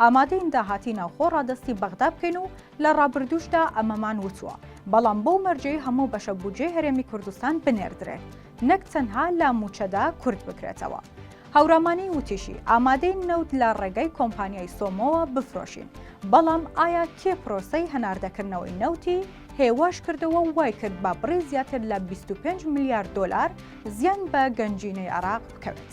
ئامادەین داهاتی ناوخۆ ڕادەستی بەغدا بکەین و لە ڕابردووشدا ئەمەمان وتووە، بەڵام بەو مەرجەی هەموو بەشە بودجەی هەرێمی کوردستان بنێردرێت، نەک تەنها لە مووچەدا کورت بکرێتەوە. هەورامانی وتیشی، ئامادەین نەوت لە ڕێگەی کۆمپانیای سۆمۆوە بفرۆشین، بەڵام ئایا کێ پرۆسەی هەناردەکردنەوەی نەوتی هێواش کردەوە و وایکرد بە بڕی زیاتر لە بیست و پێنج ملیار دۆلار زیان بە گەنجینەی عێراق بکەوێت؟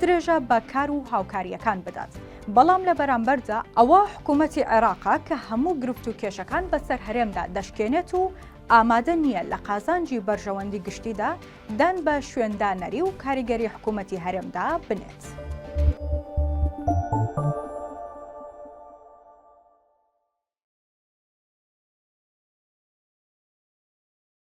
درێژە بە کار و هاوکارییەکان بدات، بەڵام لە بەرامبەردا ئەوە حکوومەتی عێراقە کە هەموو گرفت و کێشەکان بەسەر هەرێمدا دەشکێنێت و ئامادە نییە لە قازانجی بەرژەوەندی گشتیدا دان بە شوێندانەری و کاریگەری حکوومەتی هەرێمدا بنێت.